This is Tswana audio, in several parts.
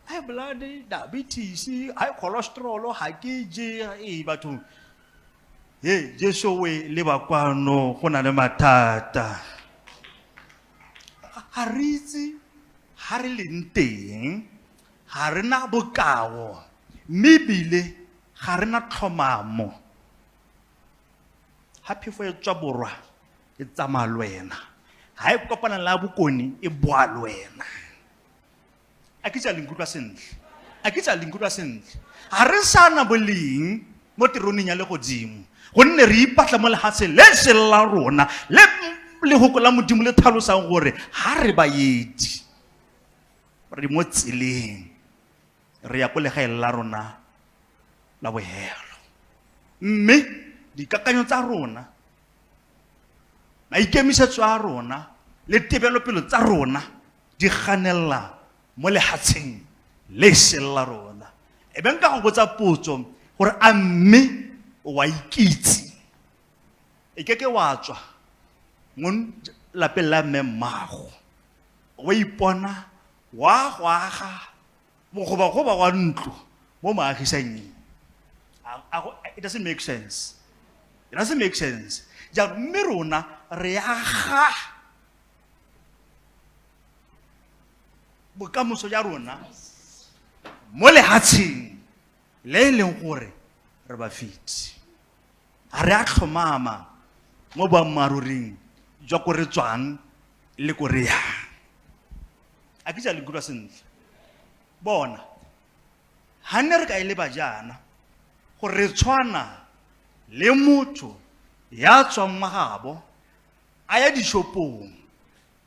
high blood diabetes high cholesterol ga ke je ee bathong e jesu o e leba kwano go na le mathata ga re itse ga re leng teng ga re na bokao mme ebile ga re na tlhomamo Ha phefo e tswa borwa e tsamaya le wena. Ha e kopana le ya bokone e boa le wena. A ke tsa le nkutlwa sentle. A ke tsa le nkutlwa sentle. Ha re sana boleng mo teroneng ya legodimo. Gonne re ipatla mo lehatsheng le se la rona le lehoko la modimo le tlhalosang gore ha re baedi re mo tseleng re ya ko legaeng la rona la bohelo mme dikakanyo tsa rona maikemisetso a rona le tebelopelo tsa rona di ganelela mo lehatsheng le sele la rona e beng ka go botsa potso gore a mme wa ikitse e ke ke wa tswa mo lapeng la mme mmago wa ipona wa go aga mogobagoba wa ntlo mo moagisanyeng it doesn't make sense it doesn't make sense jaanong mme rona re aga bokamoso ja rona mo lehatsheng le e leng gore re ba fiti A re a tlhomama mo boammaaruring jwa ko re tswang le ko re yang. A ke jalo nkutlwa sentle. Bona, ga nne re ka e leba jaana gore re tshwana le motho ya tswang magabo a ya dishopong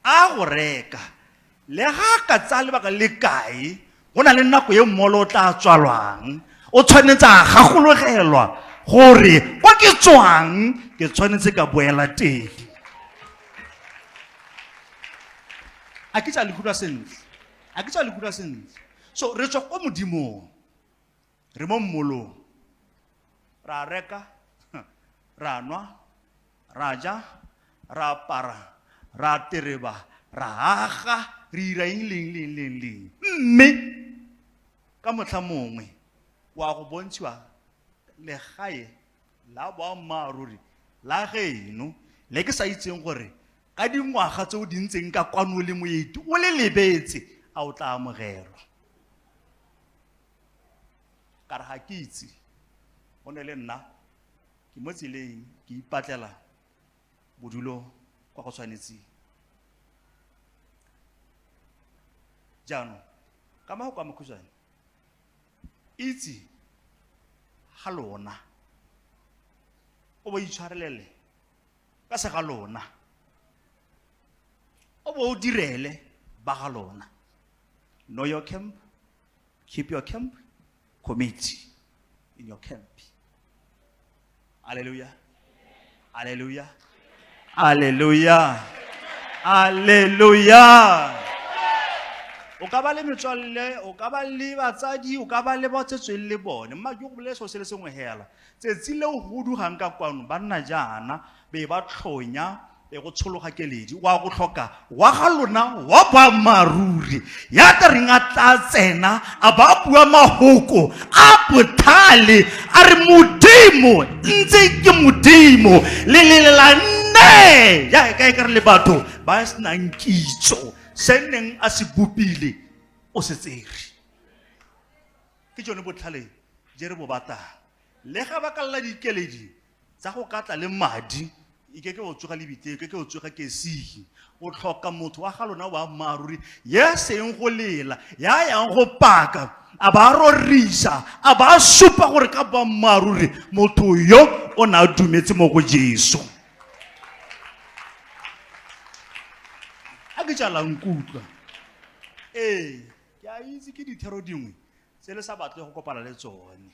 A go reka. Le ga a ka tsaya lebaka le kae, go na le nako e mmolo o tla tswalwang. O tshwanetse a gakologelwa gore kwa ke tswang ke tshwanetse ka boela teng. A ke tsa le utlwa sentle? A ke tsa le utlwa sentle? So re tswa kwa Modimong. re mo mmolong ra reka ra nwa ra ja ra apara ra tereba ra aga re ira eng leng leng leng leng mme ka motlha mongwe wa go bontshiwa legae la boammaaruri la geno le ke sa itseng gore ka dingwaga tse o di ntseng ka kwano le moeti o le lebetse a o tla amogelwa ka re ga ke itse go ne le nna ke mo tseleng ke ipatlela bodulo kwa go tshwanetseng jaanong ka mago kwa mokhutswane itse ga lona o bo itshwarelele ka se ga lona o bo o direle ba ga lona know your camp Keep your camp. Commit in your camp. Hallelujah. Hallelujah. Hallelujah. Hallelujah. o ka ba le metswalle o ka ba le batsadi o ka ba le ba tsetsweng le bone mma ke go bolela seo se le sengwe hela tsatsi leo go dugang ka kwano ba nna jaana be ba tlhonya be go tshologa keledi wa go tlhoka wa ga lona wa boammaaruri ya tla reng a tla tsena a ba bua mahoko a bothale a re modimo ntse ke modimo le lelela nne jaaka e ka re le batho ba e senang kitso se neng a se bopile o se tsere ke tsone botlhale je re bo batang le ga ba kalela dikeledi tsa go ka tla le madi e ke ke o tsoga le bitse e ke ke o tsoga ke sige o tlhoka motho wa ga lona wa mmaaruri ya seng go lela ya yang go paka a ba rorisa a ba supa gore ka ba mmaaruri motho yo o ne a dumetse mo go jesu a ke jalang kutlwa ee ke a itse ke dithero dingwe se le sa batle go kopana le tsone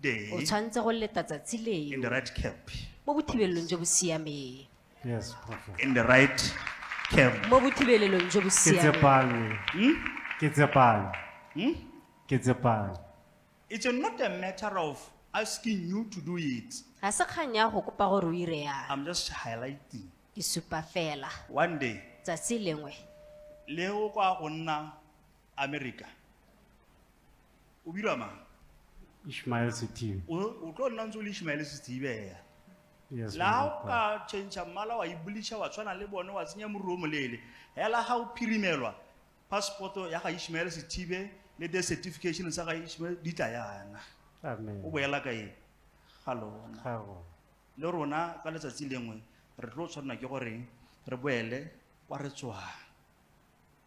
day o tshwanetse go leta tsatsi in leo the right camp. mo bothibelelong jo bo siameng Yes, Prophet. In the right camp. mo bothibelelong jo bo Ke siameng tsepame. Hmm? Ke tsepame. Hmm? Ke tsepame. It's not a matter of asking you to do it. ga se kgang ya go kopa gore o ire yang I'm just highlighting. ke supa fela One day, tsatsi lengwe le o kwa go nna America, o bira mang Ishmael Sithibe. o o tlo nna ntse o le ishmaele setsibea Yes, la man ha of o God. ka change mmala wa ibulisha wa tshwana le bone wa tsenya moruru o moleele hela ga o phirimelwa passport ya ga ishmaele sethibe le the certification sa ga ishmaele di tla yana o Amen. boela ka eng ga lona Ga go. le rona ka letsatsi lengwe re tlo tshwanela ke gore re boele kwa re tswang